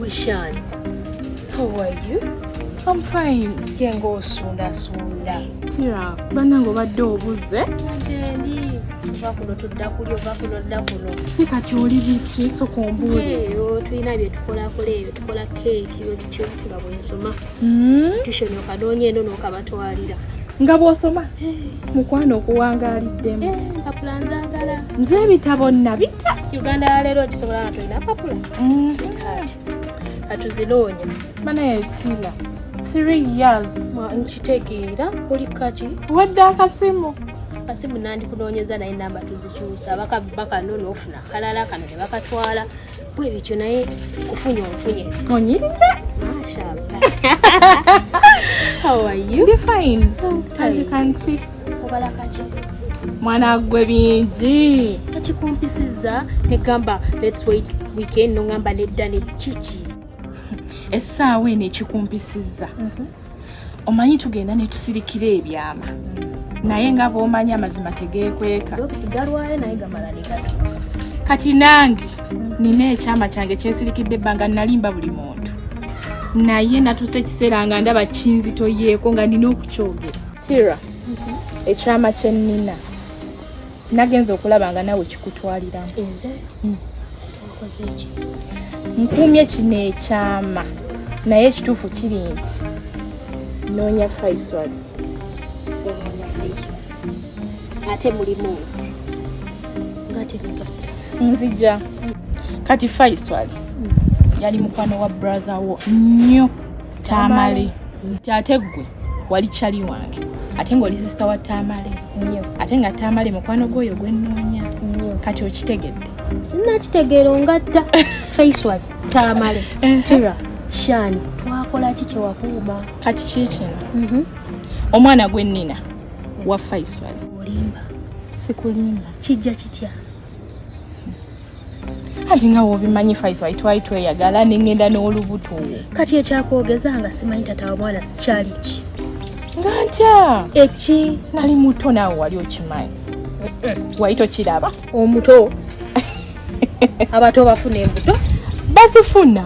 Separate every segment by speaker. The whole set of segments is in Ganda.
Speaker 1: Wishan, how are you? I'm fine.
Speaker 2: Yenga
Speaker 1: osundasunda. Tira,
Speaker 2: banange obadde obuze? Gyendi.
Speaker 1: Ova kuno tudda kuli ova kuno dda kuno. Ye kati oli biki
Speaker 2: soka ombuulire. Eyo tulina bye
Speaker 1: tukolakola eyo tukola keeki bwe tutyo nga bwensoma. hmm? tushoni okadoonya eno nokabatwalira nga bwosoma
Speaker 2: mukwano okuwangaliddemu eh, mpapula
Speaker 1: nzagala nze ebitabo
Speaker 2: nabita uganda yaleero
Speaker 1: okisobola nga tolina mpapula hmm. katuzinoonya banaye
Speaker 2: tila three years nkitegeera
Speaker 1: oli kaki wadde akasimu
Speaker 2: akasimu
Speaker 1: nandikunoonyeza naye namba tuzikyusa bakanoona ofuna kalala kano ne bakatwala bwe bityo naye kufunye ofunye onyiridde ndi fine
Speaker 2: as you can see obala kaki
Speaker 1: mwana
Speaker 2: gwe bingi ekikumpisiza
Speaker 1: negamba let's wait weekend nongamba nedda ne kiki
Speaker 2: essaawa eno ekikumpisiza mhm. omanyi tugenda netusirikira ebyama naye nga bwomanyi amazima tegekweka
Speaker 1: kati
Speaker 2: nange nina ekyama kyange kyesirikidde ebbanga nalimba buli muntu naye natusa ekiseera nga ndaba kinzitoyeeko nga nina okukyogera tira ekyama kyenina nagenze okulaba nga nawe kikutwalira nze
Speaker 1: hmm. okoze ki nkuumye
Speaker 2: kino ekyama naye ekituufu kiri nti noonya faisal onoonya
Speaker 1: faisal ate mulimu nze nga tebigatta nzija
Speaker 2: kati faisal hmm. yali mukwano wa brother wo nnyo tamale nti ate ggwe wali cali wange ate ng'oli sisita wa tamale ate nga tamale mukwano gwoyo gwenoonya kati okitegedde sinakitegeera
Speaker 1: ongatta faiswal tamale kira shan twakola ki kyewakuuma kati kikino
Speaker 2: mhm. omwana gwe nina wa faiswal olimba
Speaker 1: sikulimba
Speaker 2: kijja kitya anti nga wobimanyi faiso ayitwali tweyagala nengenda n'olubuto kati ekyakwogeza
Speaker 1: nga simanyi tata wa mwana sikyali ki nga ntya
Speaker 2: eki nali
Speaker 1: muto naawe
Speaker 2: wali okimanyi wali tokiraba omuto
Speaker 1: abato bafuna embuto bazifuna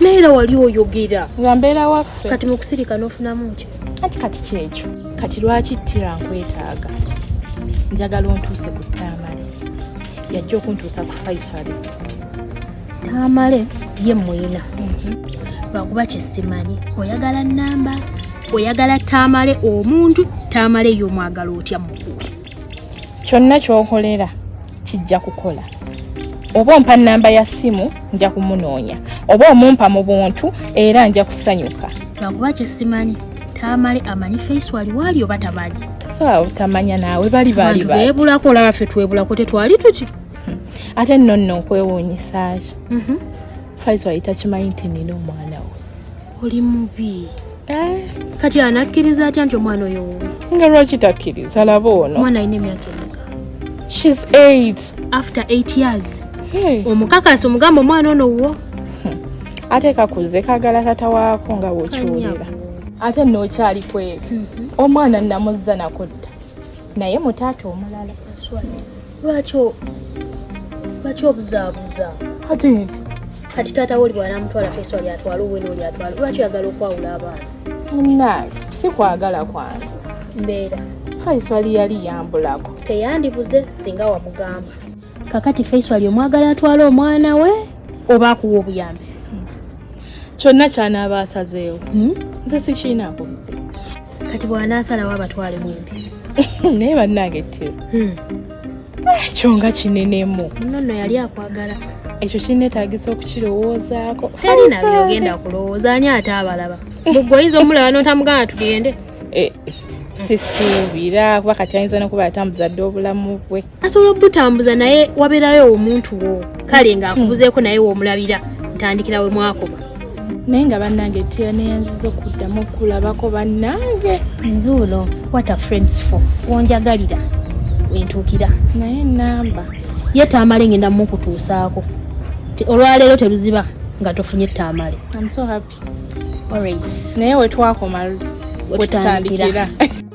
Speaker 2: naye era
Speaker 1: wali oyogera nga mbeera waffe
Speaker 2: kati mu kusirika n'ofunamu
Speaker 1: ki anti kati kyekyo
Speaker 2: kati lwaki ttira nkwetaaga njagala ontuuse ku taamale yajja okuntuusa ku faisali
Speaker 1: taamale ye muyina mhm. lwakuba kyesimanyi oyagala namba oyagala taamale omuntu taamale y'omwagala otya mukuwe kyonna
Speaker 2: kyokolera kijja kukola oba ompa namba ya simu nja kumunoonya oba omumpa mu buntu era nja kusanyuka lwakuba kyesimanyi
Speaker 1: tamale amanyi face wali wali oba tamanyi sawa utamanya
Speaker 2: nawe bali bali bali bebula ko la fe
Speaker 1: twebula ko tetwali tuki hmm. ate
Speaker 2: no no kwewonye saje mhm mm faizo ayita chimainti nino mwana we oli mubi
Speaker 1: Eh, kati anakkiriza atya nti omwana oyo wuwe nga lwaki takkiriza
Speaker 2: laba ono omwana alina emyaka emeka
Speaker 1: shes
Speaker 2: 8 after 8
Speaker 1: years hey. omukakasi omugamba omwana ono wuwo hmm. ate
Speaker 2: kakuze kagala tata waako nga wokiwulira ate nookyali kweri mhm. omwana namuzza nakudda naye mutaata omulala lwaki
Speaker 1: lwaki obuzaabuza kati taata we oli bwanamutwala feesi oli atwala owena oli atwala lwaki oyagala okwawula abaana munange
Speaker 2: sikwagala kwange mbeera
Speaker 1: faiswali
Speaker 2: yali yambulako teyandibuze
Speaker 1: singa wamugamba kakati faiswali omwagala atwala omwana we oba akuwa obuyambi
Speaker 2: kyonna kyanaaba asazeewo hmm? nze sikiinaako muzibu kati bw'anaasalawo
Speaker 1: abatwale bumpi naye bannange
Speaker 2: te hmm. ekyo nga kinenemu muno nno yali akwagala
Speaker 1: ekyo kinetagisa
Speaker 2: okukirowoozaako ogenda
Speaker 1: kulowooza ani ate abalaba mugwe oyinza omulaba notamugana tugende eh, sisuubira
Speaker 2: kuba kati ayinza nokuba yatambuza dde obulamu bwe asobola okubutambuza
Speaker 1: naye waberayo omuntu wo kale nga akubuzeeko naye womulabira ntandikira we mwakoba naye nga
Speaker 2: bannange etera neyanziza okuddamu okulabako bannange nzuulo
Speaker 1: what a friends for wonjagalira wentuukira naye enamba
Speaker 2: ye taamale
Speaker 1: ngenda mukutuusaako olwaleero teruziba nga tofunye taamale
Speaker 2: naye
Speaker 1: wetwakoma
Speaker 2: wetutandikira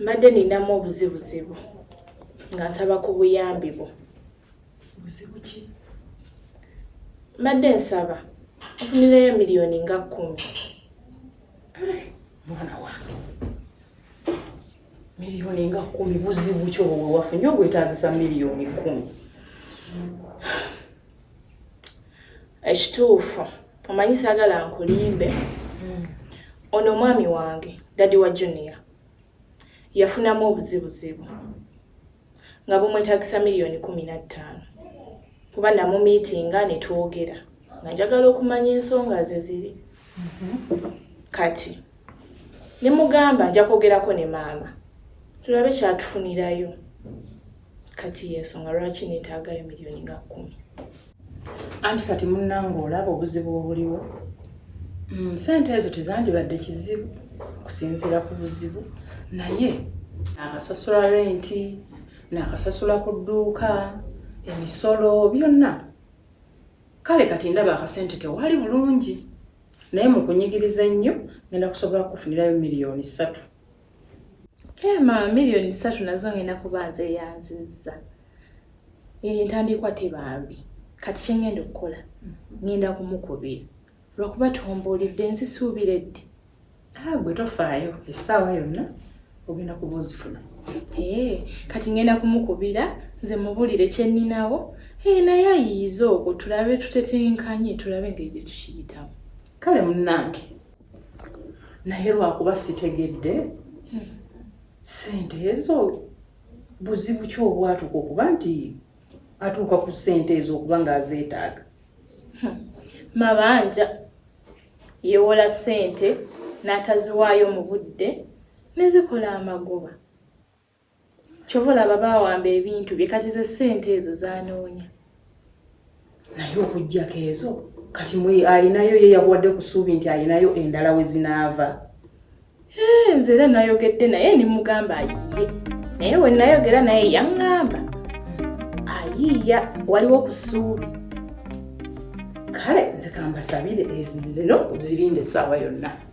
Speaker 2: mbadde ninamu obuzibuzibu nga nsaba ku buyambi bwo
Speaker 3: mbadde
Speaker 2: nsaba ofunireyo miliyoni nga kkumi
Speaker 3: mwana wange miliyoni nga kkumi buzibu ki obwo bwewafunye obwetagisa miliyoni kkumi
Speaker 2: ekituufu omanyi sagala nkulimbe mm. ono omwami wange dadi wa junior yafunamu obuzibuzibu nga bumwetagisa miliyoni kumi na ttaano kuba namumiitinga ne twogera nga njagala okumanya ensonga ze ziri mm-hmm. kati ne mugamba nja kwogerako ne maama tulabe kyatufunirayo kati yensonga lwaki netaagayo miliyoni nga kkumi
Speaker 3: anti kati munnanga olaba obuzibu obuliwo mm, sente ezo tezandibadde kizibu kusinziira ku buzibu naye nakasasula renti nakasasula ku dduuka emisolo byonna kale kati ndaba akasente tewali bulungi naye mu kunyigiriza ennyo ngenda kusobola kukufunirayo miliyoni ssatu
Speaker 2: Ema eh, million satu nazo ngenda kubanza eyanzizza entandikwa tebambi kati kyengenda okukola ngenda kumukubira lwakuba tombuulidde nzisuubira eddi ah, gwe
Speaker 3: tofaayo essaawa yonna ogenda kuba ozifuna eh,
Speaker 2: kati ngenda kumukubira nze mubulire kyenninawo eh, naye ayiyiza okwo tulabe tutetenkanye tulabe engeri gye tukiyitamu kale munnange
Speaker 3: naye lwakuba sitegedde hmm. sente ezo buzibu ki obwatuuka okuba nti atuuka ku sente ezo okuba ng'azeetaaga hmm. mabanja
Speaker 2: yewola sente n'ataziwaayo mu budde nezikola amagoba kyobola babawamba ebintu bye kati ze sente ezo zanoonya
Speaker 3: naye okujjako ezo kati mwe alinayo ye yakuwadde ku suubi nti alinayo endala we zinaava eh,
Speaker 2: nze era nayogedde naye nimugamba ayiye naye we nayogera naye yaŋŋamba ayiiya waliwo ku suubi kale
Speaker 3: nze kambasabire ezizino zirinde essaawa yonna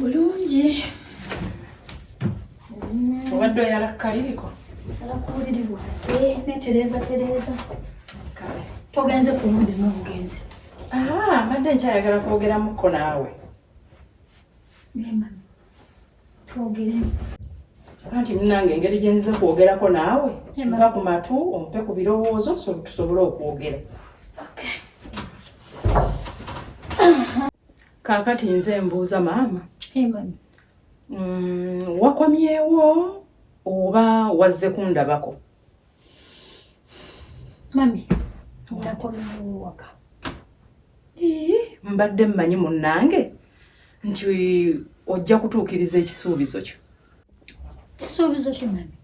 Speaker 3: bulungi obadde oyala kukaliriko alakuwuliribwa
Speaker 4: eh, netereeza tereeza
Speaker 3: togenze
Speaker 4: kulumbi nomugenzi ah, mbadde
Speaker 3: nkyayagala kwogeramuko naawe
Speaker 4: twogere
Speaker 3: anti munange engeri gyenzize kwogerako naawe mpa ku matu
Speaker 4: ompe
Speaker 3: ku birowoozo tusobole okwogera Kaakati nze mbuuza maama. Hey, mami.
Speaker 4: Mm, wakomyewo
Speaker 3: oba wazze kundabako?
Speaker 4: Mami, nakomyewo waka. Ee,
Speaker 3: mbadde mmanyi munnange nti ojja kutuukiriza ekisuubizo kyo. Kisuubizo
Speaker 4: kyo mami?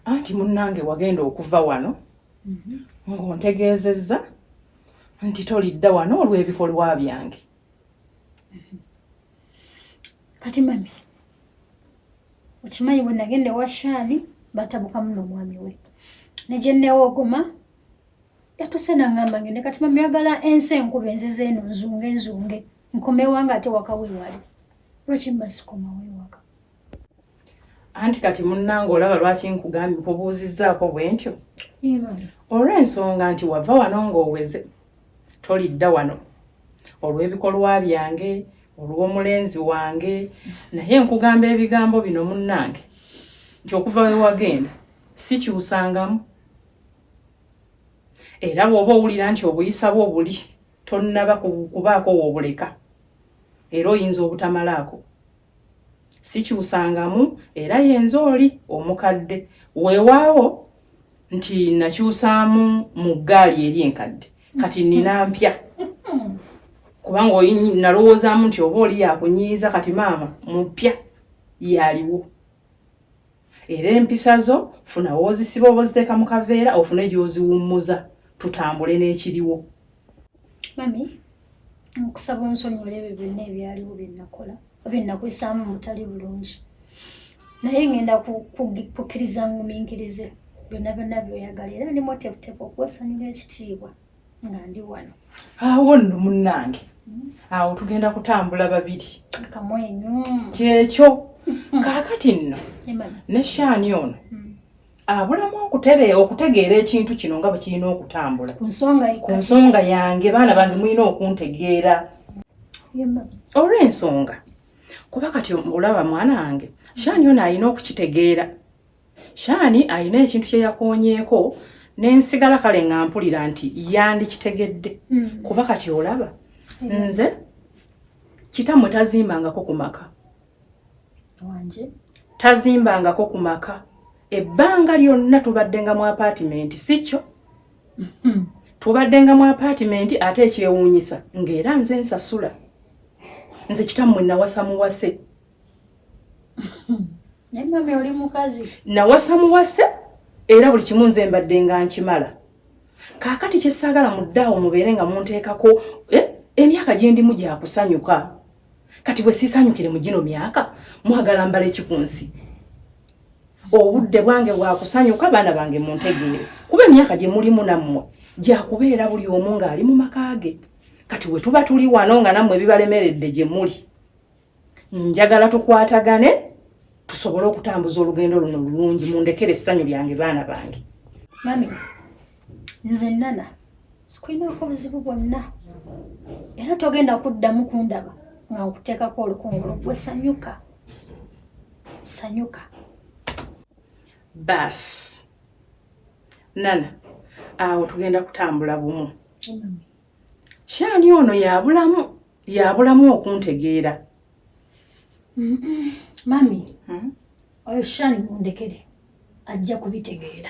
Speaker 3: Anti munnange wagenda okuva wano mm -hmm. ng'ontegeezezza nti tolidda wano olw'ebikolwa byange
Speaker 4: kati mami okimanyi bwe nagenda ewa shaali batabukamu n'omwami we ne gye nneewogoma yatuse nangamba ngende kati mami yagala ensi enkuba enziza eno nzunge nzunge nkomewa nga ate waka weewali lwaki mba sikoma weewaka
Speaker 3: anti kati munnange olaba lwaki nkugambye nkubuuzizzaako bwe ntyo
Speaker 4: olw'ensonga
Speaker 3: nti wava wano ng'oweze tolidda wano olw'ebikolwa byange olw'omulenzi wange naye nkugamba ebigambo bino munnange nti okuva we wagenda sikyusangamu era bw'oba owulira nti obuyisa bwo buli tonnaba kubaako woobuleka era oyinza obutamalaako sikyusangamu era yenze oli omukadde weewaawo nti nakyusaamu mu ggaali eri enkadde kati nina mpya kubanga nalowoozaamu nti oba oli yakunyiiza kati maama mupya yaliwo era empisa zo funa wozisiba oba oziteeka mu kaveera ofune gy'oziwummuza tutambule n'ekiriwo mami
Speaker 4: nkusaba onsonyiwala ebyo byonna ebyaliwo bye nakola oba ennakwesaamu mutali bulungi naye ngenda kukkiriza nguminkirize byonna byonna byoyagala era ndi motefutefu okwesanyula ekitiibwa nga ndi wano awo nno
Speaker 3: munnange hmm. awo tugenda kutambula babiri kamwenyu
Speaker 4: kyekyo
Speaker 3: kaakati nno ne shaani ono hmm. abulamu okutere okutegeera ekintu kino nga bwe kirina okutambula ku
Speaker 4: nsonga
Speaker 3: yange baana bange mulina okuntegeera olw'ensonga kuba kati olaba mwana wange shaani ono alina okukitegeera Shani alina ekintu kye yakonyeeko nensigala kale nga mpulira nti yandikitegedde mm. kuba kati olaba mm. nze kitamwe tazimbangako ku maka
Speaker 4: tazimbangako
Speaker 3: ku maka ebbanga lyonna tubadde nga mu apaatimenti si kyo mm-hmm. tubadde nga mu apaatimenti ate ekyewuunyisa ng'era nze nsasula nze kitammwe nawasa muwase
Speaker 4: naye mame oli mukazi nawasa muwase
Speaker 3: era buli kimu nze mbadde nga nkimala kaakati kyesaagala muddaawo mubeere nga munteekako eh, emyaka gye ndimu gyakusanyuka kati bwe siisanyukire mu gino myaka mwagala mbala eki ku nsi obudde bwange bwakusanyuka baana bange muntegeere kuba emyaka gye mulimu nammwe gyakubeera buli omu ng'ali mu maka ge kati we tuba tuli wano nga nammwe bibalemeredde gye muli njagala tukwatagane tusobole okutambuza olugendo luno lulungi mundekere essanyu lyange baana bange mami
Speaker 4: nze nana sikulinaako buzibu bwonna era togenda kuddamu kundaba nga nkuteekako olukungulu gwe sanyuka sanyuka
Speaker 3: baasi nana awo tugenda kutambula bumu shaani ono yabulamu yabulamu okuntegeera
Speaker 4: mami hmm? oyo shaani mundekere ajja kubitegeera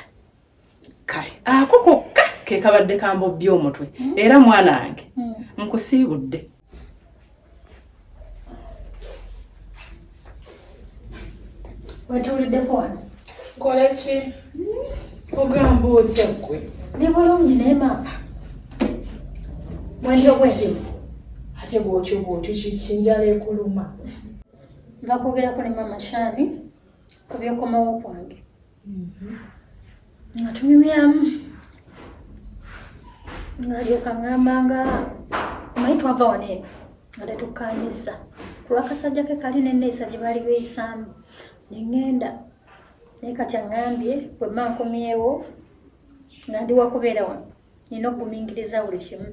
Speaker 3: kale ako kokka kekabadde kambobbya omutwe hmm? era mwana wange hmm. nkusiibudde
Speaker 4: wetuuliddeko wano nkola ki
Speaker 2: ogamba otya gwe ndi bulungi naye
Speaker 4: maama mwendo bwendi ate
Speaker 2: bwotyo bwotyo kikinjala ekuluma nva
Speaker 4: kwogerako ne maama shani ku byokomawo kwange nga tunyumyamu ngalyoka ngamba nga omanyi twava wano eno nga tetukkaanyizza kulwakasajja ke kali neneeyisa gye baali beeyisaamu neŋŋenda naye kati aŋŋambye bwe mma nkomyewo nga ndi wakubeera wano nina okugumingiriza buli kimu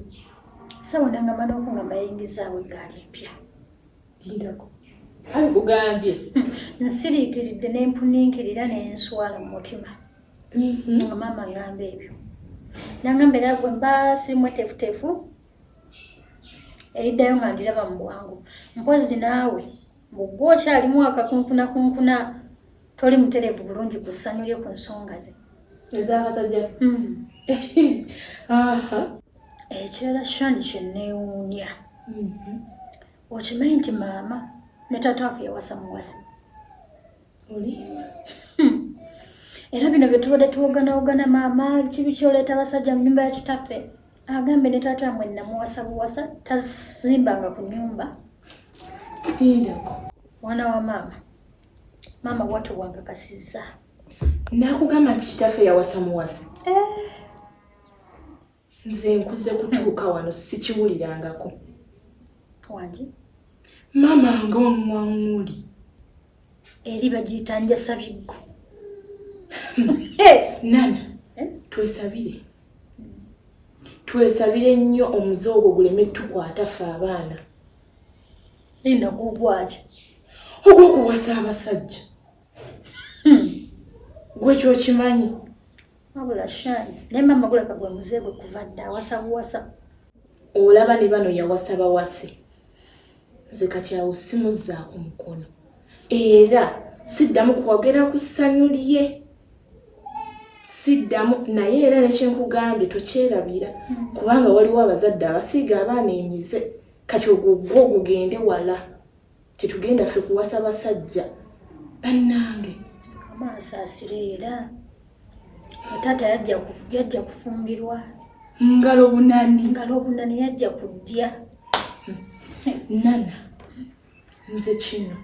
Speaker 4: sawona nga mana oku nga mbayingizaawo eggaali empya
Speaker 2: lindako kale kugambye nsiriikiridde
Speaker 4: ne mpuninkirira ne nswala mu mutima mhm. nga maama ngamba ebyo nangamba era gwe mba sirimu etefutefu eriddayo nga ndiraba mu bwangu mpozi naawe mbugwe okyalimu akakunkunakunkuna toli mutereevu bulungi ku ssanyu lye ku nsonga ze ezabasajja
Speaker 2: hmm.
Speaker 4: ekirala shani kyenneewuunya mhm. okimanyi nti maama ne taata waffe yawasa muwasi
Speaker 2: olimba hmm.
Speaker 4: era bino bye tubadde tuwoganawogana maama kibi kyoleeta abasajja mu nyumba ya kitaffe agambe ne taata mwe namuwasa buwasa tazimbanga ku nyumba
Speaker 2: lindako mwana
Speaker 4: wa maama maama watu wankakasizza nakugamba
Speaker 2: nti kitaffe yawasa muwasa eh. nze nkuze kutuuka wano sikiwulirangako
Speaker 4: wangi
Speaker 2: maama ngaomuwaŋuli
Speaker 4: eri bagiyita njasabiggo
Speaker 2: nana eh? twesabire twesabire nnyo omuze ogwo guleme tukwata fe abaana
Speaker 4: enda gugwaki ogwokuwasa
Speaker 2: abasajja hmm. gwekyokimanyi wabula
Speaker 4: shani naye mama guleka gwe muze gwe kuva dda awasa buwasa olaba
Speaker 2: ne bano yawasa bawase nze kati awo simuzzaako mukono era siddamu kwogera ku ssanyu lye siddamu naye era nekyenkugambye tokyerabira hmm. kubanga waliwo abazadde abasiiga abaana emize kati ogwo gwo gugende wala tetugenda ffe kuwasa basajja bannange amaaso
Speaker 4: asira era taata yajja kufumbirwa ngalo
Speaker 2: bunani ngalo bunani yajja kudya nana nze kino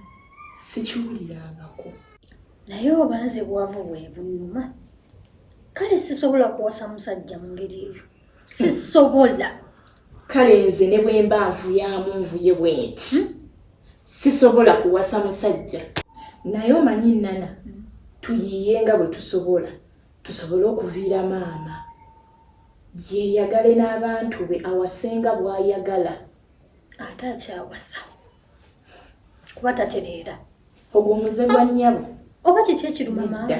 Speaker 2: sikiwulirangako
Speaker 4: naye oba nze bwavu bwe bunuma kale sisobola kuwasa musajja mu ngeri eyo sisobola kale
Speaker 2: nze ne bwemba nvuyamu nvuye bwenti hmm? sisobola kuwasa musajja naye omanyi nana tuyiye nga bwe tusobola tusobole okuviira maama yeyagale n'abantu be awasenga bwayagala ate
Speaker 4: akyawasa kuba tatereera ogwo omuze
Speaker 2: gwa nnyabo oba kiki ekiruma
Speaker 4: maama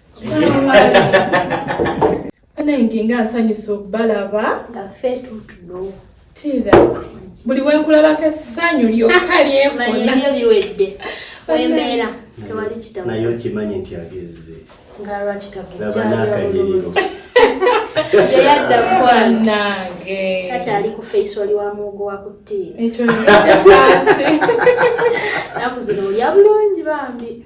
Speaker 2: banange nga nsanyusa okubalaba nga ffe tutuno
Speaker 4: tira
Speaker 2: buli wenkulabako essanyu lyokka lyenfunayo biwedde
Speaker 1: wembeera tewali kitabu naye okimanyi nti
Speaker 5: agezze nga
Speaker 1: lwakitabulabanakanyiriro
Speaker 5: yeyadda
Speaker 1: kwanange
Speaker 2: kakyali ku
Speaker 1: faisoli wa muwogo wa kuttiira ekyo
Speaker 2: kyaki
Speaker 1: naku zino olya bulungi bambi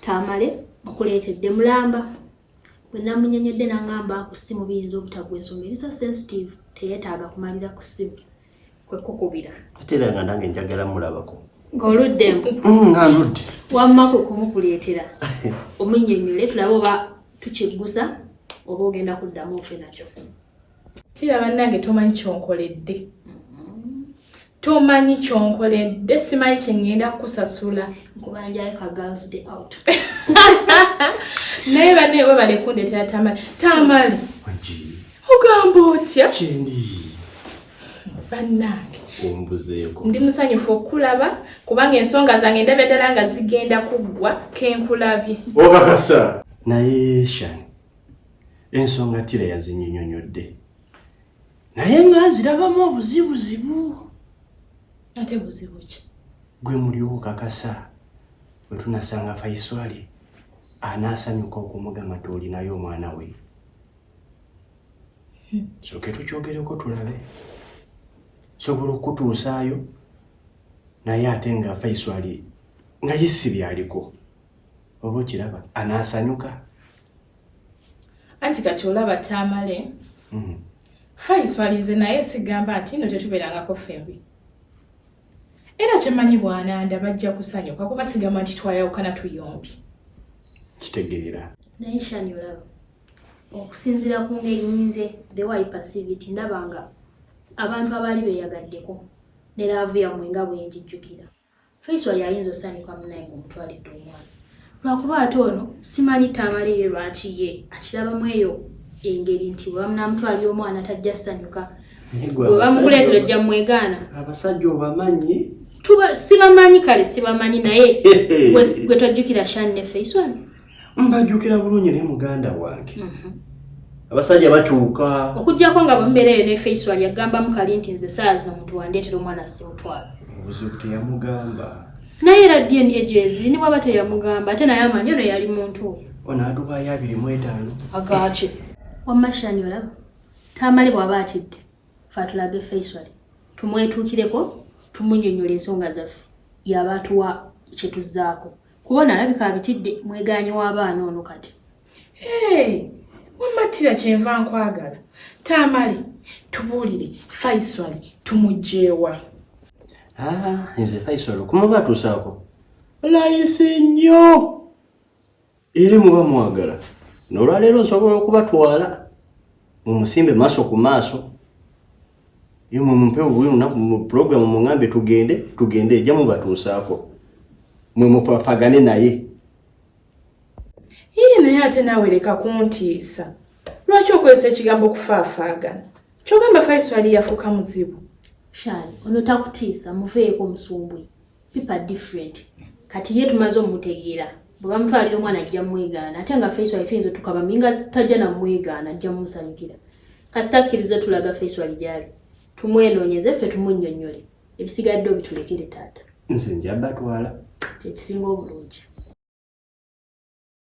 Speaker 1: tamale okuleetedde mulamba bwe namunyonyodde nangamba ku ssimu biyinza obutagwa ensonga eriso sensitive teyetaaga kumalira ku ssimu kwekukubira ate era nga nange
Speaker 5: njagala mulabako ng'oludde mbu
Speaker 1: mm, nga ndudde
Speaker 5: wamma kwe
Speaker 1: kumukuleetera omunyonyole tulabe oba tukiggusa oba ogenda kuddamu ofe nakyo kira
Speaker 2: bannange tomanyi kyonkoledde mm-hmm. tomanyi kyonkoledde simanyi kyengenda kukusasula
Speaker 1: naye
Speaker 2: bane webale kundetera tamale tamale
Speaker 5: ogamba
Speaker 2: otya bannange
Speaker 5: ndi musanyufu
Speaker 2: okukulaba kubanga ensonga zange ndabya ddala nga zigenda kuggwa kenkulabye obakasa
Speaker 5: naye shan ensonga tira yazinyonyonyodde naye nga nzirabamu obuzibuzibu
Speaker 2: ate buzibu ki gwe muliwo
Speaker 5: okakasa bwe tunasanga faiswali anaasanyuka okumugamba ti olinayo omwana we hmm. soke tukyogereko tulabe sobola okukutuusaayo naye ate nga faiswali nga yesi byaliko oba okiraba anaasanyuka
Speaker 2: anti kati olaba taamale mm. faiswalize naye sigamba nti no tetubeerangako fembi era kyemanyi bwananda bajja kusanyuka kuba sigamba nti twayawukana tuyombi
Speaker 5: kitegeera naye shani
Speaker 1: olaba okusinzira ku ngeri nyinze the way passivity ndaba nga abantu abaali beeyagaddeko ne laavu yammwe nga bwe njijjukira Faisal yayinza osanyuka munaye ng'omutwalidde omwana lwakuba ate ono simanyi taamala eyo lwaki ye akirabamu eyo engeri nti bwebamunamutwalira omwana tajja sanyuka bwebamukuleetera ojja mwegaana abasajja obamanyi
Speaker 5: sibamanyi
Speaker 1: kale sibamanyi naye gwe tojjukira shan ne faisal mbajjukira
Speaker 5: bulungi ne muganda wange mhm. abasajja bakyuka okujjako nga bwembeera
Speaker 1: eyo nefeiswal yagambamu kali nti nze saa zino omuntu wandeetera omwana simutwala obuzibu
Speaker 5: teyamugamba naye era
Speaker 1: dna gyezi ni bwaba teyamugamba ate naye amanyi ono yali muntu oyo ono adubayo abiri
Speaker 5: mu etaano agaki
Speaker 1: wamashani olaba tamale bwaba atidde fatulage feiswal tumwetuukireko tumunyonyola ensonga zaffe yaba atuwa kyetuzaako kuba ono alabika abitidde mwegaanyi w'abaana ono kati
Speaker 2: wammattira kyenva nkwagala taamale tubuulire faisali
Speaker 5: tumugyewa ah, nze faisali
Speaker 2: okumuba atuusaako
Speaker 5: layisi nnyo eri muba mwagala nolwaleero nsobola okubatwala mumusimbe maaso ku maaso Ye mwe mumpe obubiri lunaku mu pulogulaamu muŋambe tugende tugende ejja mubatuusaako mwe mufafagane naye
Speaker 2: yii naye ate naawe leka kuntiisa lwaki okozesa ekigambo okufaafaagana kyogamba faiswali yafuuka muzibu shani ono
Speaker 1: takutiisa muveeko omusumbwe pipa different kati ye tumaze omutegeera bwe bamutwalira omwana ajja mwegaana ate nga face wali tuyinza otukaba minga tajja namwegaana ajja mumusanyukira kasita akkiriza otulaga face wali gyali tumwenoonyeze ffe tumunyonnyole ebisigadde
Speaker 5: obitulekere
Speaker 1: taata nze
Speaker 5: njabatwala kyekisinga
Speaker 1: obulungi